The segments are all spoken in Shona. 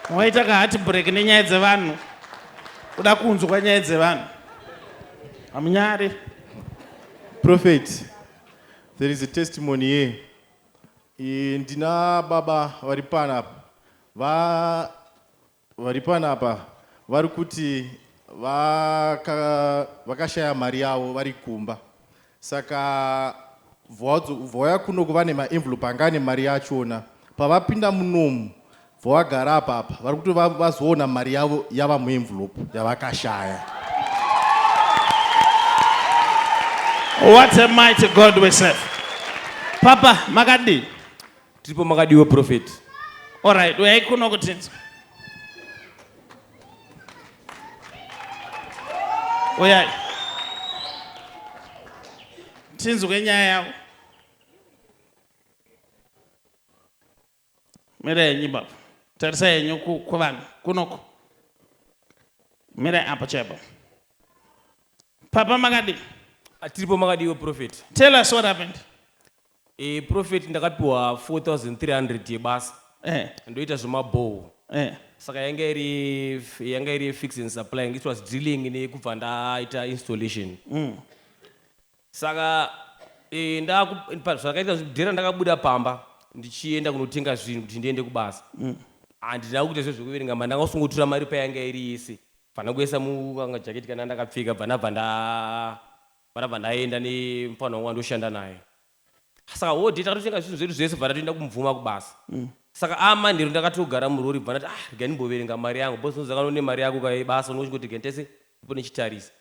Waita ka heart break nenyaya dzevanhu. Kuda kunzwa nyaya dzevanhu. Hamunyare. Prophet, there is a testimony here. E, ndina baba vari pana apa. Va vari pana apa vari kuti vakashaya mari yavo vari kumba. Saka vauya kuno kuva nemaenvelope anga ane mari yachona. Pavapinda munomu vavagara apa apa vari kuti vazoona mari yavo yava muenvelope yavakashaya. What a mighty God we serve. Papa makadii? Tiripo makadiwa prophet. All right, uyai kuno kuti tinzwe. Uyai. Tinzwe nyaya yavo. Mira yenyu baba. Tarisa yenyu ku- kuvanhu kunoko. Mira apa chaipo. Papa makadii? Ah, Tiripo makadiwa prophet. Tell us what happened. Eh prophet ndakapiwa 4300 yebasa Eh. ndoita zvemabhohwo Eh. saka yanga iri yanga iri fix and supplying it was drilling nekubva ndaita installation saka eh, ndaku- pa- zvakaita zvekudhera ndakabuda pamba ndichienda kunotenga zvinhu kuti ndiende kubasa handina kuita zve zvekuverenga mari ndanga kusungotura mari payanga iri yese bva ndakuisa mukanga jaketi kana ndakapfeka bva ndabva nda Ndakabva ndaenda nemupfanha wangu wandoshanda naye. Saka whole day takatotenga zvinhu zvedu zvese bva tatoenda kumubvuma kubasa. Saka ava manheru ndakatogara murori bva ndati ah regai ndimboverenga mari yangu boss ndinoziva kana une mari yako ukauya ibasa unenge uchingoti regai nditarise ndipo ndichitarisa.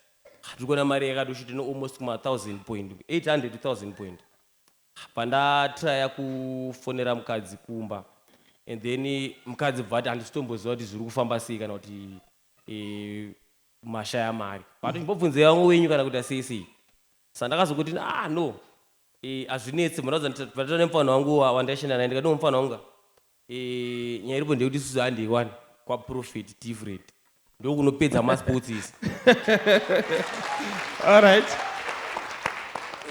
Ah ndiri kuona mari yakatosvika ine almost kuma thousand point 800 to thousand point. Bva ndatryer kufonera mukadzi kumba and then mukadzi bva ati handisi kutomboziva kuti zviri kufamba sei kana kuti eh, mashaya mari but chimbobvunzai vamwe wenyu kana kuita sei sei sandakazokuti ah no eh, hazvinetse murauza nditaura nemufana wangu wa- wandaishanda naye ndikati mufana wangu ka, eh, nyaya iripo ndeyekuti isusu handiwani kwaprofit different ndokunopedza masports isi Alright.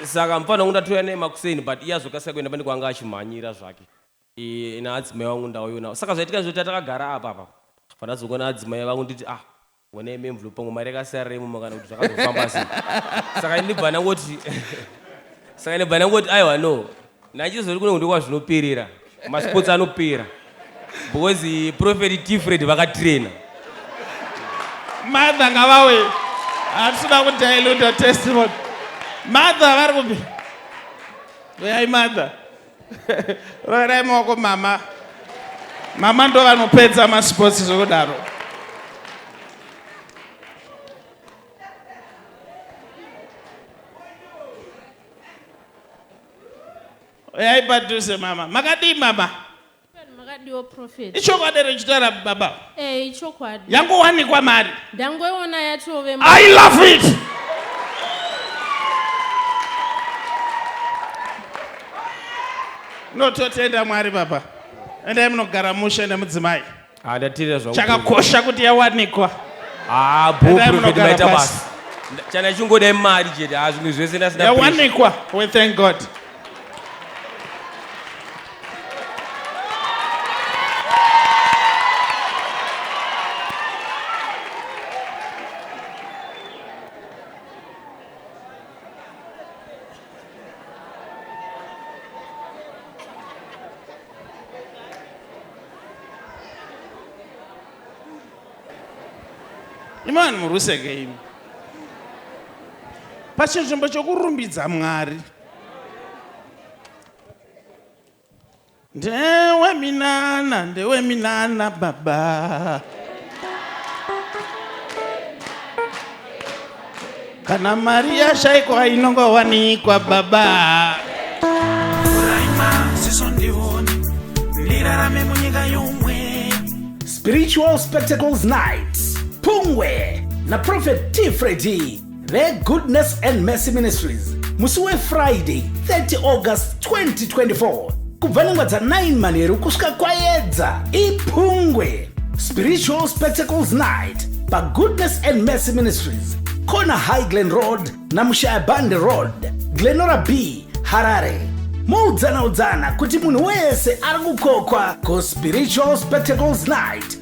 saka mufana wangu ndatouya naye makuseni but iye azokasika kuenda pane kwanga achimhanyira zvake Iye ina adzimai vangu ndauyonawo saka zvaitika ndezvekuti atakagara apa apa pandazongoona adzimai vangu nditi ah wena imi mvlu pangu mari yakasarira imomo kana kuti zvakazofamba sei saka ndibva ndangoti saka ndibva ndangoti aiwa no nachizori kuno kundi kwazvinoperera masports anopera because prophet tifred vakatraina mother ngavauye hatisuda kudailuta testimony mother vari kupi uyai mother roverai maoko mama mama ndo vanopedza masports zvekudaro uyai padhuze mama makadii mama makadiwo prophet ichokwadi here chitaura baba eh ichokwadi yangowanikwa mari ndangoiona yatove i love it nototenda mwari baba endai munogara mushe nemudzimai Ah, ndateerera zvauri kutaura. chakakosha kuti yawanikwa Ah, bho, Endai prophet, munogara maita pasi. basa. Nda- Chana chingoda imari chete. Ah, zvimwe zvese ndasina pressure. yawanikwa we thank god imi vanhu muruseke imi pachinzvimbo chokurumbidza mwari ndewe minana ndewe minana baba kana mari yashaikwa inongowanikwa baba spiritual spectacles night pungwe na prophet t fredi vegoodness and mercy ministries musi wefriday 30 august 2024 kubva nhengo dza9 manheru kusvika kwayedza ipungwe spiritual spectacles night pagoodness and mercy ministries corner high glen road namushaya bande road glenora b harare muudzana udzana kuti munhu wese ari kukokwa kuspiritual spectacles night